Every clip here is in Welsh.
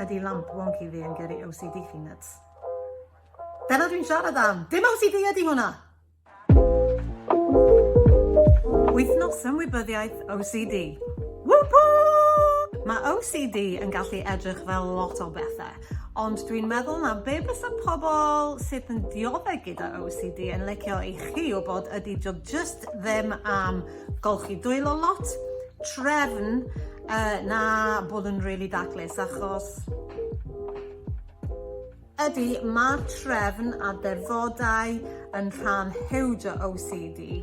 Ydy lamp wonky fi yn gyrru OCD chi nyts? Dyna dwi'n siarad am! Dim OCD ydy hwnna! Wythnos Ymwybyddiaeth OCD. Whoop whoop! Mae OCD yn gallu edrych fel lot o bethau, ond dwi'n meddwl na be bysa pobl sydd yn dioddef gyda OCD yn licio i chi wybod ydy doedd jyst ddim am golchi dwylo lot, trefn uh, na bod yn rili really daclus achos ydy mae'r trefn a defodau yn rhan hewd o OCD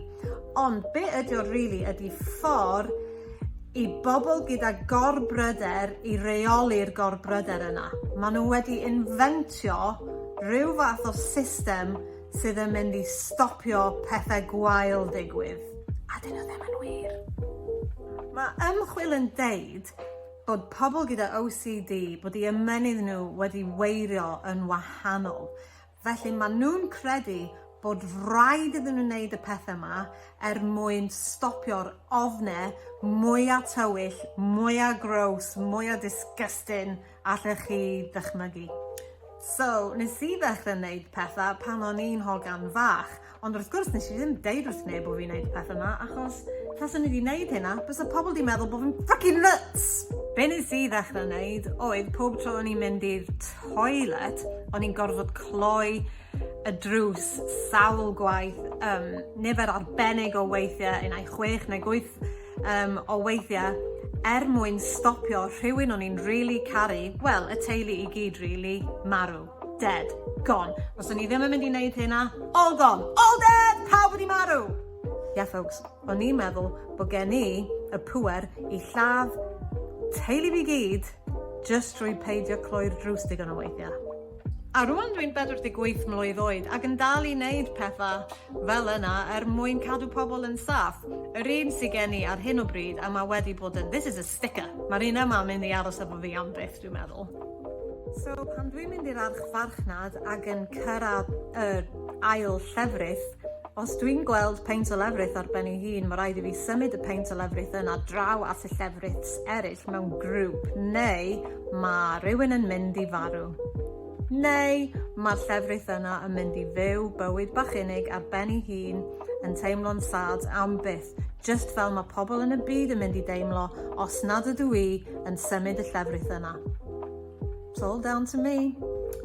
ond be ydy o'r rili really ydy ffordd i bobl gyda gorbryder i reoli'r gorbryder yna. Maen nhw wedi inventio rhyw fath o system sydd yn mynd i stopio pethau gwael digwydd, a 'dyn nhw ddim yn wir. Mae ymchwil yn deud bod pobl gyda OCD bod i ymenydd nhw wedi weirio yn wahanol. Felly mae nhw'n credu bod rhaid iddyn nhw wneud y pethau yma er mwyn stopio'r ofne mwya tywyll, mwya gross, mwya disgusting Allech chi ddychmygu? So, nes i ddechrau wneud pethau pan o'n i'n hogan fach, ond wrth gwrs nes i ddim deud wrth neb bod fi'n wneud y pethau yma, achos taswn i wedi wneud hynna, bysa pobl wedi meddwl bod fi'n fucking nuts! Be nes i ddechrau wneud oedd pob tro o'n i'n mynd i'r toilet, o'n i'n gorfod cloi y drws sawl gwaith, um, nifer arbennig o weithiau, unai chwech neu gwyth Yym o weithia er mwyn stopio rhywun o'n i'n rili caru, wel y teulu i gyd rili, marw. Dead. Gone. Os o'n i ddim yn mynd i neud hynna, all gone. All dead! Pawb wedi marw! Yeah folks, o'n i'n meddwl bod gen i y pŵer i lladd teulu fi gyd jyst drwy peidio cloi'r drws digon o weithia. A rŵan dwi'n 48 mlwydd oed ac yn dal i neud petha fel yna er mwyn cadw pobl yn saff. Yr un sy gen i ar hyn o bryd a ma' wedi bod yn this is a sticker, ma'r un yma yn mynd i aros efo fi am byth dwi'n meddwl. So pan dwi'n mynd i'r archfarchnad ag yn cyrradd yr ail llefrith Os dwi'n gweld peint o lefrith ar ben ei hun, mae rhaid i fi symud y peint o lefrith yna draw at y llefriths eraill mewn grŵp, neu mae rhywun yn mynd i farw. Neu mae'r llefrith yna yn mynd i fyw bywyd bach unig ar ben ei hun, yn teimlo'n sad am byth, just fel mae pobl yn y byd yn mynd i deimlo os nad ydw i yn symud y llefrith yna. It's all down to me.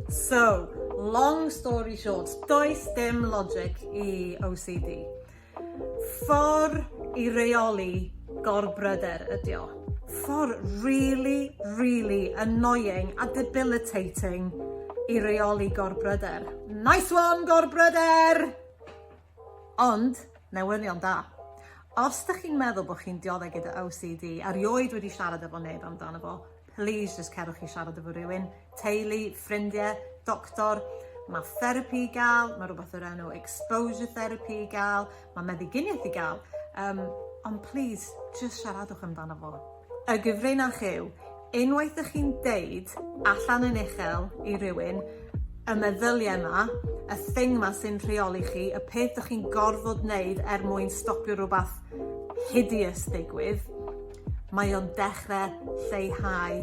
So, long story short, does dim logic i OCD. Ffordd i reoli gorbryder ydi o. Ffordd really, really annoying a debilitating i reoli gorbryder. Nice one, gorbryder! Ond, newyddion da. Os da chi'n meddwl bod chi'n dioddau gyda OCD, a rioed wedi siarad efo neb amdano fo, Plis jyst cerwch i siarad efo rhywun, teulu, ffrindiau, doctor, mae therapi i gael, mae rhywbeth o'r enw exposure therapy i gael, mae meddyginiaeth i gael, um, ond plis, jyst siaradwch amdano fo. Y gyfrinach yw, unwaith ych chi'n deud allan yn uchel i rywun, y meddyliau yma, y thing yma sy'n rheoli chi, y peth ych chi'n gorfod wneud er mwyn stopio rhywbeth hideous ddigwydd, Mae o'n dechrau lleihau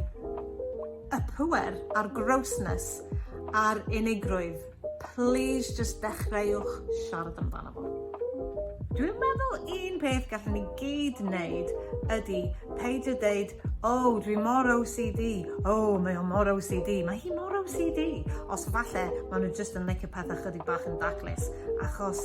y pŵer a'r grossness a'r unigrwydd. Please just dechreuwch siarad amdano fo. Dwi'n meddwl un peth gallwn ni gyd wneud ydy peidio deud, o, oh, dwi mor OCD, o, oh, mae o mor OCD, mae hi mor OCD. Os falle, maen nhw jyst yn licio pethau chydig bach yn daclus, achos